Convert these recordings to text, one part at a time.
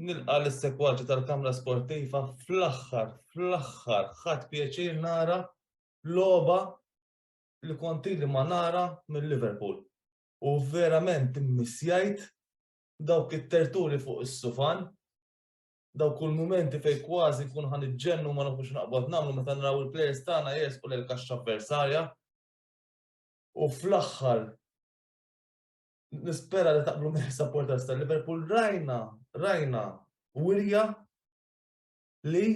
Nilqa l-sekwaċi tal-Kamra Sportiva fl-aħħar, fl-aħħar, ħadd pjaċir nara loba li konti li ma nara minn Liverpool. U verament immissjajt dawk it-terturi fuq is-sufan, dawk kull momenti fej kważi kun ħan iġġennu ma nafux naqbad namlu meta naraw il-players tagħna jesqu l kaxxa avversarja. U fl-aħħar nispera li taqblu minn supporters ta' Liverpool rajna, rajna wirja li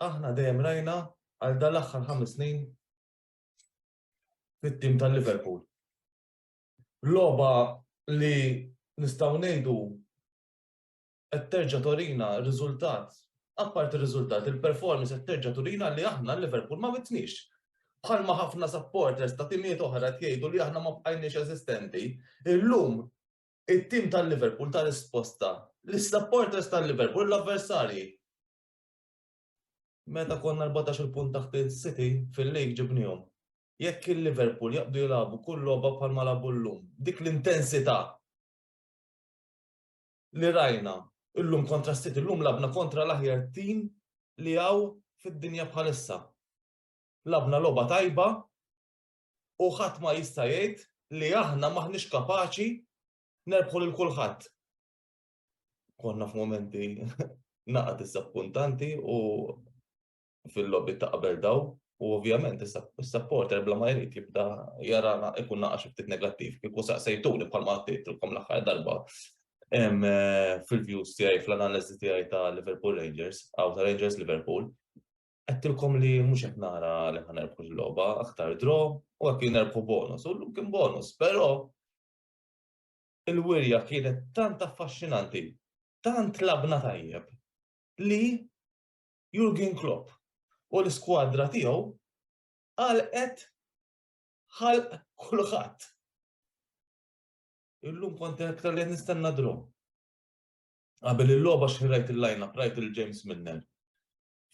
aħna dejjem rajna għal dal-aħħar ħames snin fit-tim ta' Liverpool. Loba li nistgħu ngħidu qed terġa' torina r-riżultat, apparti r-riżultat, il-performance qed terġa' turina li aħna l-Liverpool ma mitniex. Bħalma ħafna supporters ta' timijiet oħra qed jgħidu li aħna ma bqajniex eżistenti, illum it-tim tal-Liverpool ta risposta lis-supporters tal-Liverpool u l-avversarji. Meta konna erbatax-il punt taħt is-City fil-League ġibniehom. Jekk il-Liverpool jaqbdu jilagħbu kull logħba bħalma lagħbu llum, dik l-intensità, li rajna llum kontra s-City, llum lagħbna kontra l-aħjar tim li hawn fid-dinja bħalissa. Lagħbna logħba tajba u ħadd ma jista' jgħid li aħna m'aħniex kapaċi nerbħu lil kulħadd. Konna f'mumenti naqgħa diżappuntanti u fil-logħbiet ta' qabel daw u ovvjament is-supporter bla ma jrid jibda jarana ikun naqa' xi ftit negattiv kieku saqsejtuni bħalma għattejtilkom l-aħħar darba fil-views tiegħi fl-analiżi tiegħi ta' Liverpool Rangers għaw ta' Rangers Liverpool għattilkom li mhux qed nara li ħan nerbħu l-logħba, aktar dro u hekk nerbħu bonus, u llum kien bonus, però il-wirja kienet tant affaxxinanti, tant labna tajjeb li Jurgen Klopp u l-iskwadra tiegħu għalqet ħalq kulħadd. Illum kont iktar li nistenna draw. Qabel il-logħba xi rajt il-lineup, rajt il-James Milner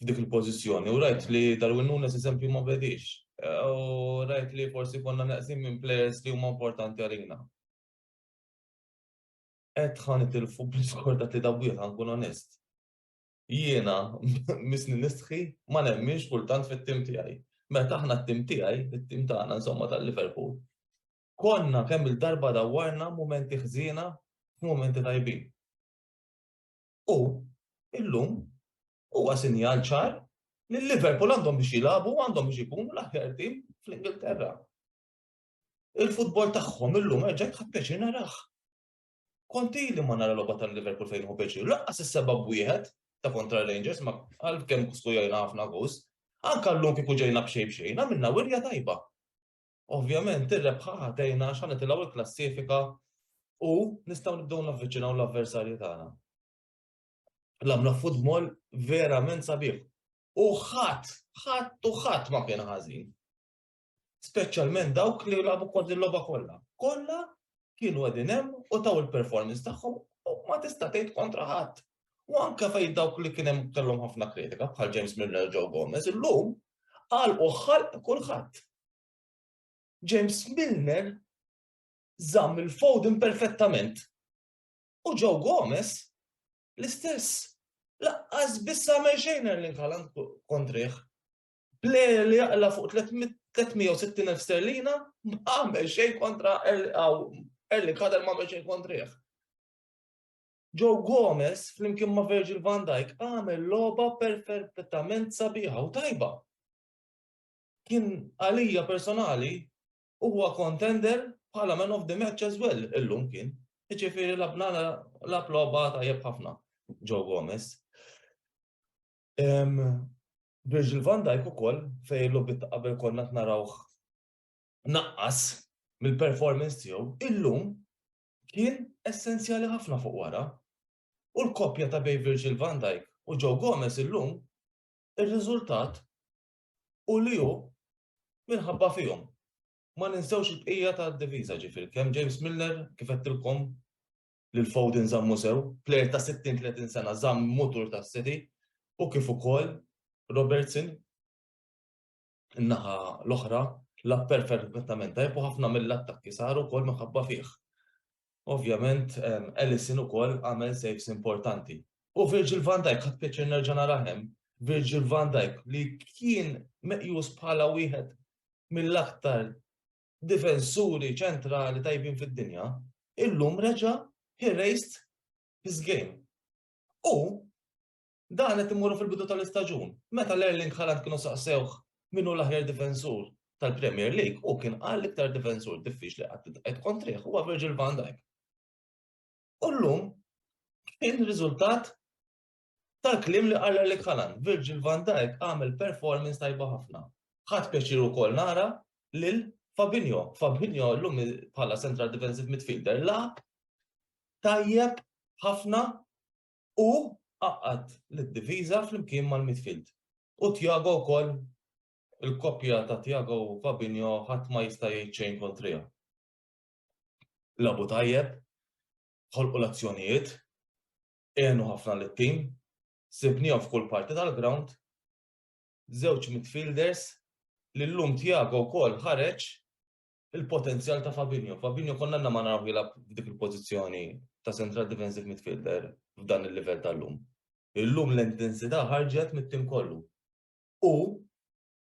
f'dik il-pożizzjoni u rajt li Darwin Nunes eżempju ma bedix. U rajt li forsi konna neqsim minn players li huma importanti għalina. Qed ħan itilfu bl-iskor ta' tlieta wieħed ħankun onest. jiena misni nistħi ma nemminx kultant fit-tim tiegħi. Meta aħna t-tim tiegħi, it-tim tagħna insomma tal-Liverpool, konna kemm il-darba dawwarna mumenti ħżiena f'mumenti tajbin. U illum huwa sinjal ċar li l-Liverpool għandhom biex jilagħbu għandhom biex ikunu l-aħjar tim fl-Ingilterra. Il-futbol tagħhom illum erġa' tħadd pjaċir naraħ. Kont ili ma nara logħba tal-Liverpool fejn hu pjaċir, laqqas is-seba' b'wieħed ta' kontra Rangers ma għalkemm skujajna ħafna goals. Anka llum kieku ġejna b'xejn b'xejn għamilna wirja tajba. Ovvjament ir-rebħa ħatejna għax ħanitilgħu l-klassifika u nistgħu nibdew navviċinaw l-avversarji tagħna. L-għamla futbol verament sabiħ. U ħadd, ħadd u ħadd ma kien ħażin. speċjalment dawk li jilagħbu kont il-logħba kollha. Kollha kienu qegħdin hemm u taw il-performance tagħhom u ma tista' tgħid kontra ħadd. U anke fejn dawk li kien hemm kellhom ħafna kritika bħal James Milner Joe Gomez illum qal u ħalq kulħadd. James Milner żamm il-Foden perfettament. U Joe Gomez l-istess laqqas biss għamel xejn li nħalan kontriħ. Player li jaqla' fuq 360,000 sterlina m'għamel xejn kontra Erling Haaland m'għamel xejn kontrih. Joe Gomez flimkien ma' Virgil van Dijk għamel logħba perfettament sabiħa u tajba. Kien għalija personali huwa contender bħala man of the match as well illum kien. Jiġifieri labna lab logħba tajjeb ħafna Joe Gomez. Virgil van Dijk ukoll fejn il-logħbiet ta' qabel konna qed narawh naqqas mill-performance tiegħu, illum kien essenzjali ħafna fuq wara. U l-koppja ta' bejn Virgil van Dijk u Joe Gomez illum ir-riżultat hu li hu minħabba fihom. Ma ninsewx il-bqija tad-diviża ġifieri kemm James Milner kif għedtilkom lil Foden żammu sew, plejer ta' 60, 30 sena żamm mutur tas-City u kif ukoll Robertson in-naħa l-oħra lagħab perfettament tajjeb u ħafna mill-attakki saru wkoll minħabba fih. Ovvjament Ellison ukoll għamel saves importanti. U Virgil van Dijk ħadd pjaċir nerġa' narah hemm, Virgil van Dijk li kien meqjus bħala wieħed mill-aktar difensuri ċentrali tajbin fid-dinja, illum reġa' he raised his game. U dan qed immorru fil-bidu tal-istaġun. Meta l-Erling Haaland kienu saqsewh min hu l-aħjar difensur tal-Premier League, u kien qal iktar difensur diffiċli qatt qed kontrih huwa Virgil van Dijk. U llum kien riżultat Tal-kliem li qal Erling Haaland, Virgil van Dijk għamel performance tajba ħafna. Ħadt pjaċir ukoll nara lil Fabinho. Fabinho llum bħala central defensive midfielder lagħab tajjeb ħafna u qaqqad lid-diviża flimkien mal-midfield. U Tiago wkoll il-koppja ta' Tiago u Fabinho ħadd ma jista' jgħid xejn kontriha. Labu tajjeb, ħolqu l-azzjonijiet, għenu ħafna lit-tim, sibniehom f'kull parti tal-grawnd, żewġ midfielders li llum Thiago wkoll ħareġ il-potenzjal ta' Fabinho. Fabinho konna għandna ma naraw jilgħab f'dik il-pożizzjoni ta' central defensive midfielder f'dan il-livell tal-lum. Illum l-intensità ħarġet mit-tim kollu. U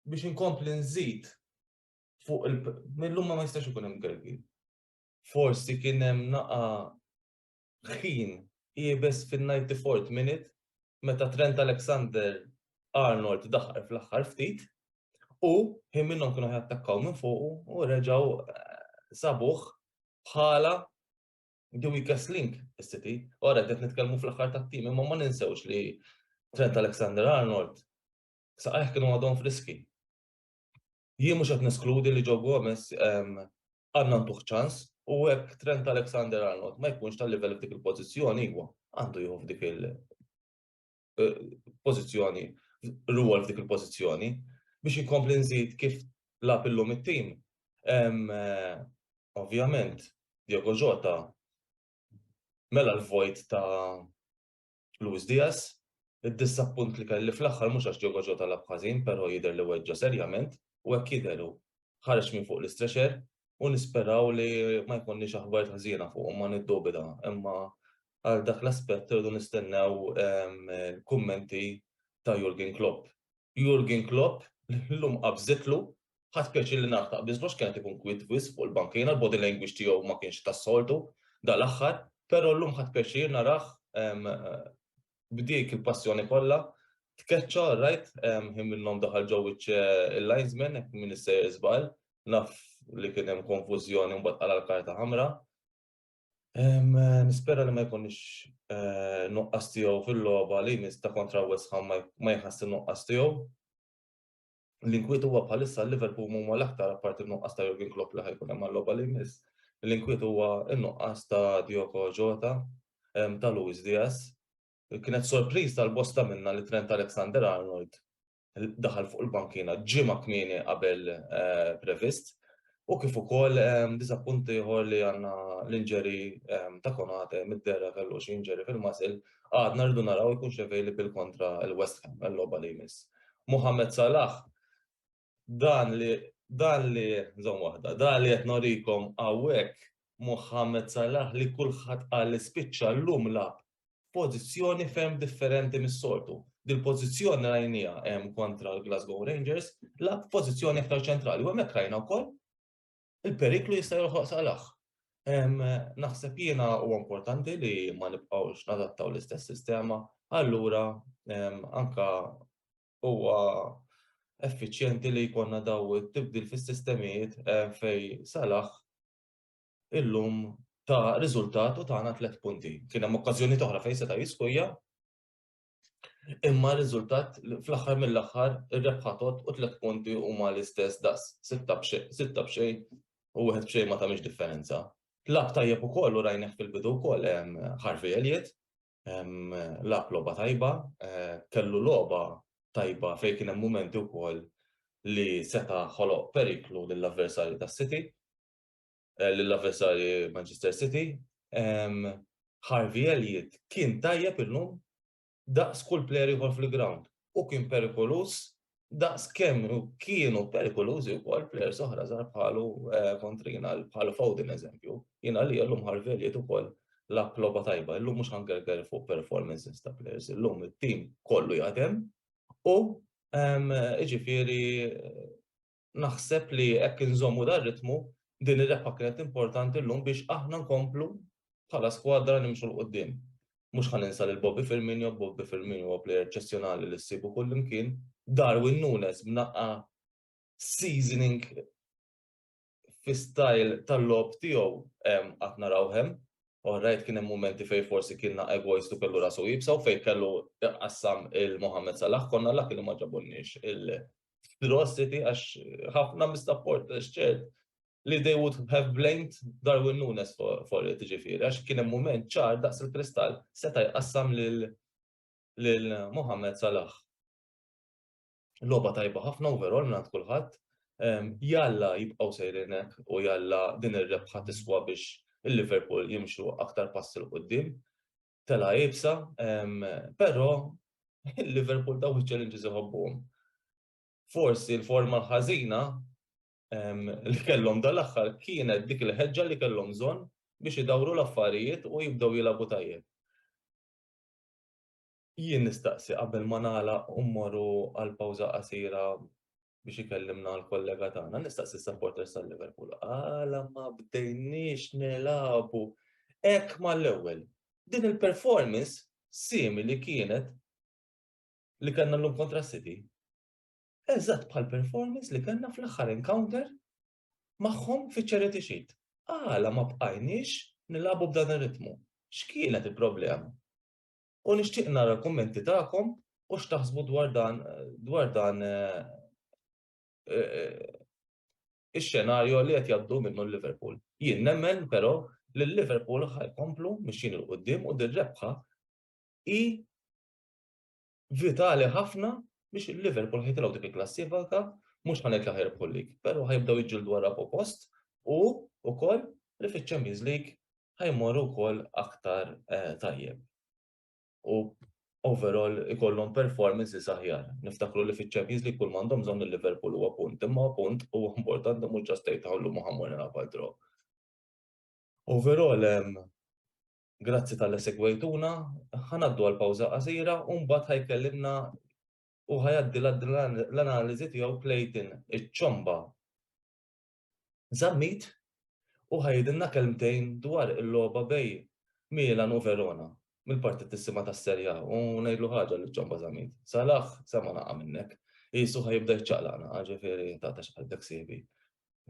biex inkompli nżid fuq il-lum ma jistax ikun hemm Gergi. Forsi kien hemm naqa ħin iebes fin-ninety fourth minute meta Trent Alexander Arnold daħal fl-aħħar ftit u ħin minnhom kienu jattakkaw minn fuqu u reġgħu eh, sabuh bħala the weakest link is-City. Ora qed nitkellmu fl-aħħar tat-tim imma ma ninsewx li Trent Alexander Arnold saqajh kienu għadhom friski. Jien mhux qed neskludi li Joe Gomez għandna ntuh ċans u hekk Trent Alexander-Arnold ma jkunx tal-livell f'dik il-pożizzjoni iva, għandu jieħu f'dik il- pożizzjoni, rwol f'dik il-pożizzjoni. Biex inkompli nżid kif lagħab illum it-tim, ovvjament Diogo Jota mela l-vojt ta' Luis Diaz, Id-diżappunt li kelli fl-aħħar mhux għax Diogo Jota lagħab ħażin però jidher li weġġa' serjament u hekk jidher hu ħareġ minn fuq l-istretcher u nisperaw li ma jkollniex aħbarijiet ħżiena fuq ma niddubita imma għal dak l-aspett irridu nistennew ehm, kummenti ta' Jurgen Klopp. Jurgen Klopp llum qabżitlu Ħadt pjaċir li nagħraf ta' Biżlox kienet ikun kwiet wisq fuq il-bankina, l-body language tiegħu ma kienx tas-soltu dal-aħħar, però llum ħadt pjaċir narah b'dik il-passjoni kollha, tkeċċa rajt ħin minnhom daħal ġo wiċċ il-linesman hekk min issejjer żball, naf li kien hemm konfużjoni u mbagħad qala' l-karta ħamra. Nispera li ma jkunx nuqqas tiegħu fil-logħba li jmiss ta' kontra West Ham ma jħass in-nuqqas tiegħu. L-inkwiet huwa bħalissa Liverpool huma l-aktar apparti n-nuqqas ta' Jurgen Klopp li ħajkun hemm għal-logħba li jmiss. L-inkwiet huwa n-nuqqas ta' Diogo Jota, ta' Luis Diaz. Kienet sorpriża għal bosta minna li Trent Alexander-Arnold daħal fuq il-bankiena ġimgħa kmieni qabel previst. U kif ukoll diżappunt ieħor li għandna l-inġeri ta' Konate mid-derra kellu xi inġeri fil-muscle, għadna rridu naraw ikunx available kontra l-West Ham għal-logħba li jmiss. Mohamed Salah, dan li, dan li, żomm waħda, dan li qed norikom hawnhekk, Mohamed Salah li kulħadd qal li spiċċa llum lagħab f'pożizzjoni ferm differenti mis-soltu. Dil-pożizzjoni rajnieha hemm kontra l-Glasgow Rangers, lagħab f'pożizzjoni aktar ċentrali u hemmhekk rajna wkoll il-periklu jista' joħloq Salah. Naħseb jiena huwa importanti li ma nibqgħux nadattaw l-istess sistema, allura anka huwa effiċjenti li jkollna daw it-tibdil fis-sistemijiet fejn Salah illum ta' riżultat u tagħna tliet punti. Kien hemm okkażjonijiet oħra fejn seta' jiskujja, imma r-riżultat fl-aħħar mill-aħħar ir-rebħa tot u tliet punti huma l-istess daqs sitta b'xejn u wieħed b'xejn ma tagħmilx differenza. Lagħab tajjeb ukoll u rajnih fil-bidu wkoll Harvey Elliott, lagħab logħba tajba, kellu logħba tajba fejn kien hemm mumenti wkoll li seta' ħoloq periklu lill-avversarju tas-City. lill-avversarji Manchester City, Harvey Elliott kien tajjeb illum daqs kull plejer ieħor fil-grawnd u kien perikoluż daqs kemm kienu perikolużi wkoll plejers oħra żgħar bħalu kontrina bħal Foden eżempju. Jiena li llum Harvey Elliott ukoll lab logħba tajba, illum mhux ħangerger fuq performances ta' plejers, illum it-tim kollu jaħdem u ġifieri naħseb li hekk inżommu dar ritmu din ir-rebħa kienet importanti llum biex aħna nkomplu bħala skwadra nimxu l qudiem Mhux ħan insa lil Bobby Firmino, Bobby Firmino huwa plejer ċessjonali li ssibu kull imkien, Darwin Nunes b'naqqa seasoning fi style tal-lob tiegħu qatt naraw hemm. Orrajt kien hemm momenti fejn forsi kien naqqa egoist u kellu rasu jibsa u fejn kellu qassam il-Mohammed Salah konna l-lak li ma ġabulniex f'curiosity għax ħafna mistapport għax ċert li they would have blamed Darwin Nunes for, for it ġifiri, għax kien hemm mument ċar daqs il-kristall seta' jqassam lil lil Mohammed Salah. Loba tajba ħafna overall minn kulħadd. Jalla jibqgħu sejrinek u jalla din ir-rebħa tiswa biex il-Liverpool jimxu aktar pass il qudiem telgħa iebsa, però Liverpool daw iċ-challenges iħobbuhom. Forsi l-forma l-ħażina li kellhom dal-aħħar kienet dik il-ħeġġa li kellhom bżonn biex idawru l-affarijiet u jibdew jilagħbu tajjeb. Jien nistaqsi qabel ma nagħlaq u mmorru għal pawża qasira biex ikellimna għal kollega tagħna, nistaqsi supporters tal-Liverpool, għala ma bdejniex nelabu hekk mal-ewwel. Din il-performance simili kienet li kellna llum kontra City. Eżatt bħal performance li kellna fl-aħħar encounter magħhom fi charity sheet. Għala ma bqajniex nilabu b'dan ir-ritmu. X'kienet il-problema? U nixtieq nara l-kummenti tagħkom u x'taħsbu dwar dan dwar dan ix-xenarju li qed jgħaddu minnu l-Liverpool. Jien nemmen però li l-Liverpool ħajkomplu mixjin il qudiem u dir-rebħa hi vitali ħafna biex il-Liverpool ħitilgħu dik il-klassifika mhux ħanet laħer ħajrbħu lig, però ħajbdew jiġġieldu wara post u wkoll li fiċ-Champions League ħa jmorru wkoll aktar tajjeb. U overall ikollhom performances aħjar. Niftakru li fiċ-Champions League kull m'għandhom bżonn il-Liverpool huwa punt, imma punt huwa importanti mhux ġast tgħid aħ illum ħa mmur nilgħab għal draw. Overall, grazzi talli segwejtuna, ħa ngħaddu għal pawża qasira u mbagħad ħa jkellimna u ħa jgħaddi l-analiżi tiegħu Clayton iċ-Ċomba. Zammit u ħa jgħidilna kelmtejn dwar il-logħba bejn Milan u Verona mill-parti tissimha tas-Serie A u ngħidlu ħaġa lil Ciomba Zammit. Salah sema' naqa' minnek. Qisu ħa jibda jiċċaqlaq naqa' ġifieri taqta' xi qalbek sieħbi.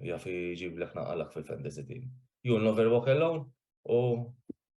Jaf iġiblek naqalak fil-fantasy team. You'll never walk alone u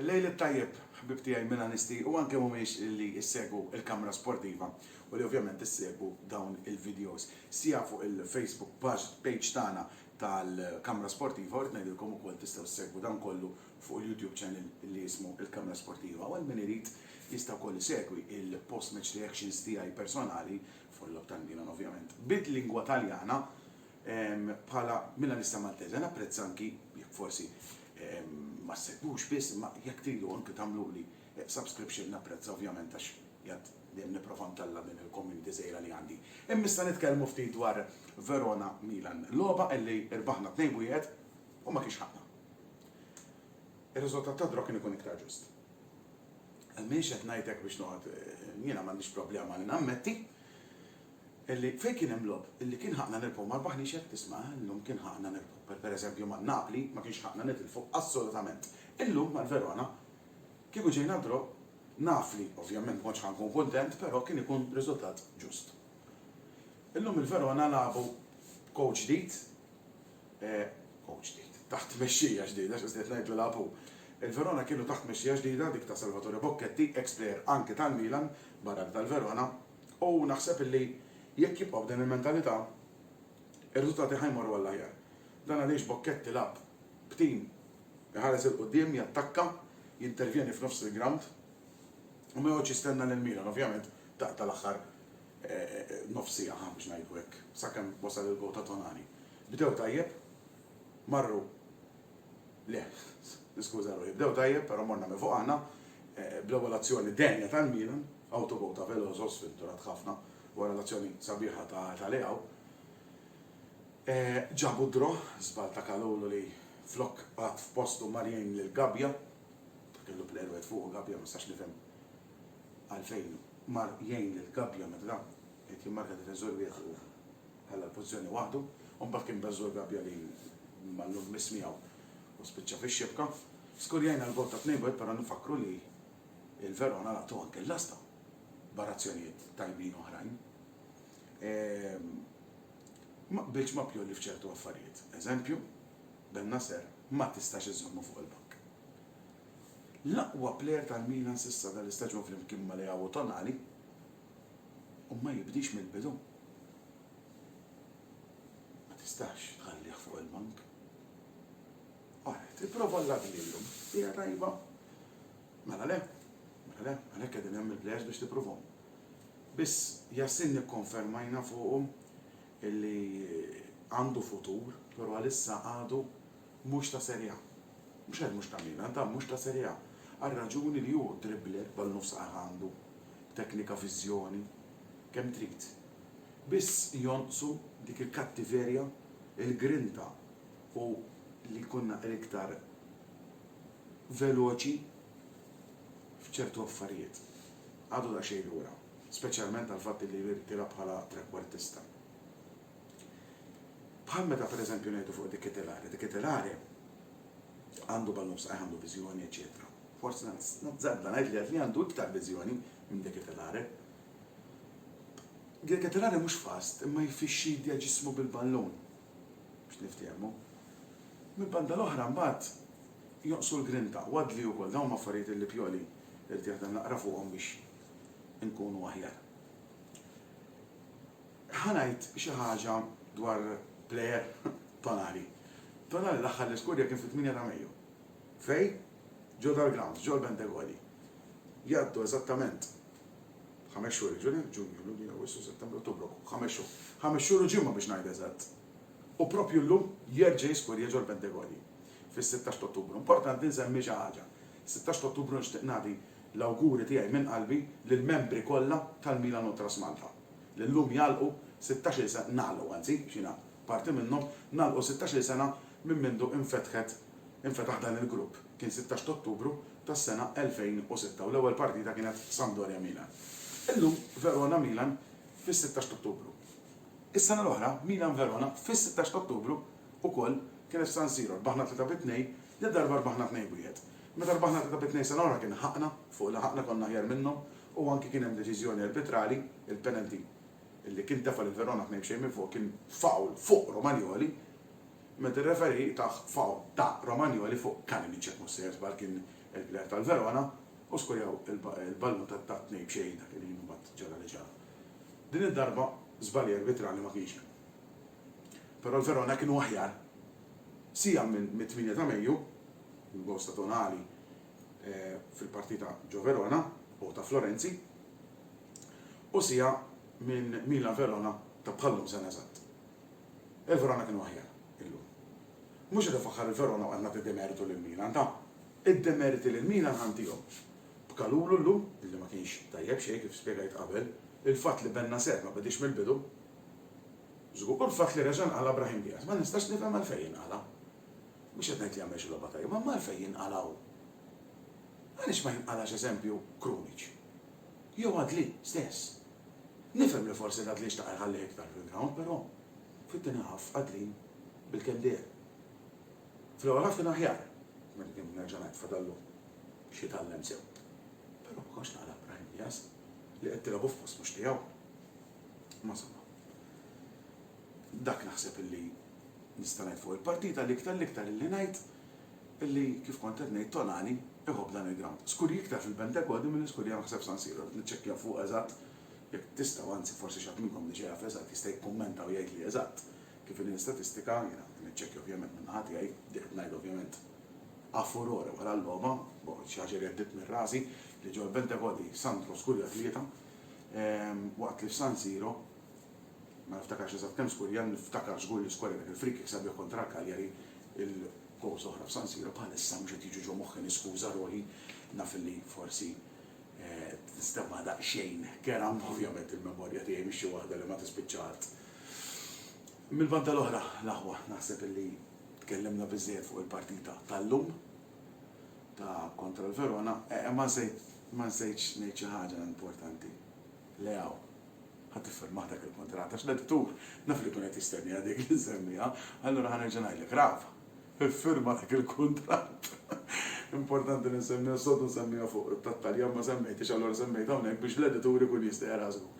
Il-lejl it-tajjeb, ħbieb tiegħi Milanisti u anke mhumiex li ssegwu il-kamra sportiva u li ovvjament issegwu dawn il-videos siegħa fuq il-Facebook page tagħna tal-kamra sportiva u rrid ngħidilkom ukoll tistgħu ssegwu dan kollu fuq il-YouTube channel li jismu il-kamra sportiva u għal min irid jista' wkoll isegwi il-post match reactions tiegħi personali fuq il-logħob tal-Milan ovvjament bil-lingwa Taljana Bħala Milanista Maltese napprezza anki, jekk forsi ma ssegwux biss, imma jekk tridu anki tagħmluli subscription napprezza ovvjament għax jgħadd dejjem nipprova ntella' din il-community żgħira li għandi. Imma issa nitkellmu ftit dwar Verona Milan, logħba illi rbaħna tnejn b'wieħed u ma kienx ħaqna. Ir-riżultat tad-draw kien ikun iktar ġust. M'iniex qed ngħid hekk biex noqgħod, jiena m'għandix problema li nammetti, illi fejn kien hemm logħob, illi kien ħaqqna nirbħu mal-Baħnix jekk tisma', eh, illum kien ħaqqna nirbħu, per pereżempju ma' Napli ma kienx ħaqqna nitilfu assolutament. Illum mal-Verona kieku ġejna draw naf li ovvjament ma kontx ħa nkun kuntent però kien ikun riżultat ġust. Illum il-Verona lagħbu b'coach ġdid, eh, coach ġdid, taħt tmexxija ġdida x'qed ngħid u lagħbu. Il-Verona kienu taħt tmexxija ġdida dik ta' Salvatore Bocchetti, ex-player anki tal-Milan, barra li tal-Verona, U naħseb illi jekk jibqgħu b'din il-mentalità, ir-riżultati ħa jmorru għall-aħjar. Dan għaliex Bocchet ilgħab b'tim iħares 'il quddiem, jattakka, jintervjeni f'nofs il-grawnd u ma joqgħodx jistenna lil Milan, ovvjament, taqta' l-aħħar nofs siegħa, ħa biex ngħidu hekk, sakemm wasal il-gowl ta' Tonali. Bdew tajjeb, marru. Le, niskuża ruħi, bdew tajjeb però morna minn fuq aħna bl-ewwel azzjoni denja tal-Milan, awtogol ta' Veloso, sfinturat ħafna wara l-azzjoni sabiħa ta' Leao. Ġabu d-draw, żball ta' Kalulu li flok qagħad f'postu mar jgħin lil Gabbia, kellu plejer wieħed fuqu Gabbia, ma nistax nifhem għalfejn mar jgħin lil Gabbia meta qed jimmarka difensur wieħed fuqu. Ħalla l-pożizzjoni waħdu u mbagħad kien beżżu l-gabbja li mallum miss miegħu u spiċċa fix-xibka. Skurjajna l-gowl ta' 2-1 però nfakkru li l-Verona laqtu anke l-lasta barra azzjonijiet tajbin oħrajn. Ma qbiltx ma' Pioli f'ċertu affarijiet. Eżempju, Bennacer ma tistax iżżommu fuq il-bank. L-aqwa plejer tal-Milan s'issa dal-istaġun flimkien ma' Leao u Tonali, u ma jibdiex mill-bidu, ma tistax tħallih fuq il-bank. Qalet, Ipprova l-ladni llum. Hija tajba? Mela le. Mela le, għalhekk qegħdin hemm il-plejers biex tippruvahom. Biss, Yasin nikkonfermajna fuqu illi għandu futur, però għalissa għadu mhux ta' Serie A. Mhux għax mhux ta' Milan, ta' mhux ta' Serie A. Għar-raġuni li hu dribbler, ballun f'saqajh għandu, b'teknika, viżjoni, kemm trid. Biss jonqsu dik il-kattiverja, il-grinta u li jkun naqra iktar veloċi f'ċertu affarijiet. Għadu daqsxejn lura, speċjalment għall-fatt li jirtira bħala trekwartista. Bħal meta pereżempju ngħidu fuq dik it-telare, dik it-telare għandu ballun f'saqajh, għandu viżjoni, eċċetera. Forsi nazzarda ngħid li Adli għandu iktar viżjoni minn dik it-telare. Dik it-telare mhux fast, imma jfixxidja ġismu bil-ballun biex niftehmu. Mill-banda l-oħra mbagħad jonqsu l-grinta u Adli wkoll dawn huma affarijiet li Pioli jrid jaħdem naqra fuqhom biex inkunu aħjar. Ħa ngħid xi ħaġa dwar plejer Tonali. Tonali l-aħħar li skurja kien fit-tminja ta' Mejju. Fejn? Ġo dal-grawnd, ġo l-Bentegoli. Jgħaddu eżattament ħames xhur jiġri, Ġunju, Lulju, Awwissu, Settembru, Ottubru, ħames xhur. Ħames xhur u ġimgħa biex ngħid eżatt. U proprju llum jerġa' jiskurja ġo l-Bentegoli fis-sittax t'Ottubru. Importanti nsemmi xi ħaġa. Sittax t'Ottubru nixtieq nagħti l-awguri tiegħi minn qalbi lill-membri kollha tal-Milan Ultras Malta. li llum jagħlqu sittax-il sena, nagħlqu anzi, għax jiena parti minnhom, nagħlqu sittax-il sena minn mindu infetħet, infetaħ dan il-grupp. Kien sittax t'Ottubru tas-sena 2006 u l-ewwel partita kienet Sampdoria-Milan. Illum Verona-Milan fis-sittax t'Ottubru. Is-sena l-oħra Milan-Verona fis-sittax t'Ottubru ukoll kienet f'San Siro, rbaħna tlieta bi tnejn, dil-darba rbaħna tnejn b'wieħed. Meta rbaħna tlieta bi tnejn sena l-oħra kien ħaqna, fuq laħaqna konna aħjar minnhom U anki kien hemm deċiżjoni arbitrali, il-penalty li kien tefa' lil Verona tnejn b'xejn minn fuq kien foul fuq Romagnoli, meta r-referee tah foul ta' Romagnoli fuq Kalinic jekk mhux sejjer żball kien il-plejer tal-Verona u skurjaw il-ballun ta' tnejn b'xejn dak il-ħin u mbagħad ġara li ġara. Din id-darba żbalji arbitrali ma kienx hemm. Però l-Verona kienu aħjar. Siegħa mit-tmienja ta' Mejju, bil-gowls ta' Tonali, fil-partita ġo Verona u ta' Florenzi u siegħa minn Milan Verona ta' bħal-lum sena eżatt. Il-Verona kienu aħjar illum. Mhux qed infaħħar il-Verona u qed nagħti demertu lil Milan, ta'. Id-demeriti lil Milan ħa ntihom b'Kalulu llum li ma kienx tajjeb xejn kif spjegajt qabel, il-fatt li Bennacer ma bediex mill-bidu żgur u l-fatt li reġa' nqala' Brahim Diaz. Ma nistax nifhem għalfejn inqala'. Mhux qed ngħid li jagħmel xi logħba tajba, imma għalfejn jinqalgħu? Għaliex ma jinqalgħax eżempju Krunic? Jew Adli stess? Nifhem li forsi l-Adli xtaq iħallih iktar fil-grawnd, però fit-tieni half Adli bilkemm deher. Fl-ewwel half kien aħjar, minn nerġa' ngħid fadallu x'jitgħallem sew. Però ma kontx naqla' Brahim Diaz li qed tilgħabu f'post mhux tiegħu. Imma insomma. Dak naħseb illi nista' ngħid fuq il-partita, l-iktar l-iktar illi ngħid illi kif kont qed ngħid Tonali iħobb dan il-grawnd. Skurji iktar fil-Bentegodi milli skurji hawn ħseb San Siro, rrid niċċekkja fuq eżatt jekk tistgħu anzi forsi xi ħadd minnkom diġà jaf eżatt jista' jikkummenta u jgħidli eżatt kif inhi l-istatistika, jiena qed niċċekkja ovvjament minn naħa tiegħi, dik qed ngħidha ovvjament a furore wara l-logħba, boh xi ħaġa li għeddiet minn rasi li ġol-Bentegodi Sandro skurja tlieta, waqt li f'San Siro Ma niftakarx eżatt kemm skur jien, niftakar żgur li skur rebħet il-free kick sabiħ kontra l-Cagliari, il-gowls l-oħra f'San Siro bħalissa mhux qed jiġu ġo moħħi niskuża ruħi, naf li forsi tinstemma daqsxejn kerha imma ovvjament il-memorja tiegħi mhix xi waħda li ma tispiċċa art. Mill-banda l-oħra, l-aħwa, naħseb li tkellimna biżżejjed fuq il-partita tal-lum ta' kontra l-Verona, ma nżidx ngħid xi ħaġa importanti. Leo, Ħa tiffirmah dak il-kuntratt għax l-editur naf li jkun qed jistenniha dik li nsemmiha, allura ħa nerġa' ngħidlek, Rafa, iffirma dak il-kuntratt. Importanti li nsemmiha s-sodu nsemmiha fuq, tat-Taljan ma semmejthiex allura semmejtha hawnhekk biex l-editur ikun jista' jaraha żgur.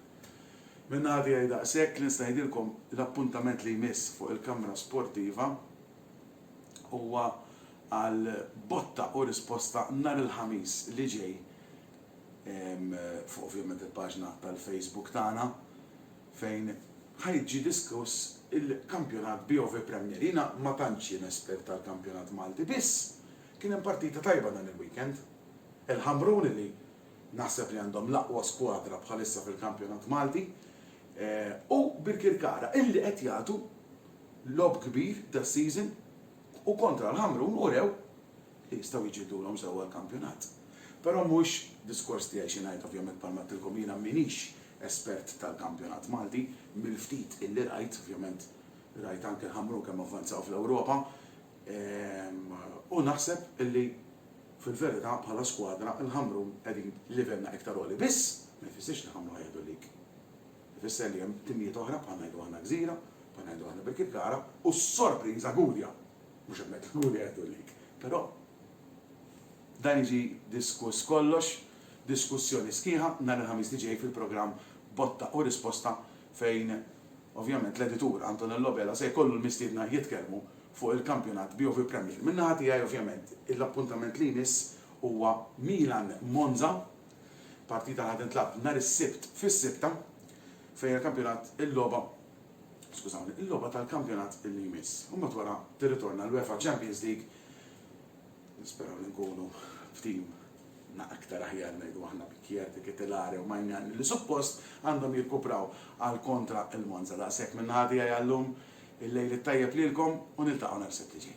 Min-naħa tiegħi daqshekk, li nista' ngħidilkom l-appuntament li jmiss fuq il-kamra sportiva huwa għal botta u risposta nhar il-Ħamis li ġej fuq ovvjament il-paġna tal-Facebook tagħna fejn ħa jiġi diskuss il-kampjonat BOV Premier. Jiena ma tantx jien espert tal-kampjonat Malti biss kien hemm partita tajba dan il-weekend. Il-Ħamrun li naħseb li għandhom l-aqwa skwadra bħalissa fil-kampjonat Malti u Birkirkara illi qed jagħtu logħob kbir das-season u kontra l-Ħamrun urew li jistgħu jġiddulhom sew għall-kampjonat. Però mhuwiex diskors tiegħi xi ngħid, ovvjament bħalma għedtilkom jiena m'iniex espert tal-kampjonat Malti, mill-ftit illi rajt, ovvjament rajt anke l-Ħamrun kemm avvanzaw fl-Ewropa, u naħseb illi fil-verità bħala skwadra l-Ħamrun qegħdin livellna iktar għoli. Biss, ma jfissirx li Ħamrun ħajieħdu l-league. Ifisser li hemm timijiet oħra bħal ngħidu aħna Gżira, bħal ngħidu aħna Birkirkara u s-sorpriża Gudja. Mhux hemmhekk inkunu nieħdu l-lead. Però dan jiġi diskuss kollox, diskussjoni sħiħa nhar il-Ħamis li ġej fil-programm Botta u Risposta fejn ovvjament l-editur Antonello Vela se jkollu l-mistiedna jitkellmu fuq il-kampjonat BOV Premier. Min-naħa tiegħi ovvjament l-appuntament li jmiss huwa Milan Monza, partita li ħa tintlagħab nhar is-Sibt fis-sitta fejn il-kampjonat, il-logħba, skużawni, il-logħba tal-kampjonat li jmiss. U mbagħad wara tirritorna l-UEFA Champions League. Nisperaw li nkunu f'tim na aktar aħjar ngħidu aħna bi Kjerte, Ketelare u Maignan li suppost għandhom jirkupraw għal kontra il-Monza. Daqshekk minn naħa tiegħi għallum, il-lejl it-tajjeb lilkom u niltaqgħu nhar is-Sibt li ġej.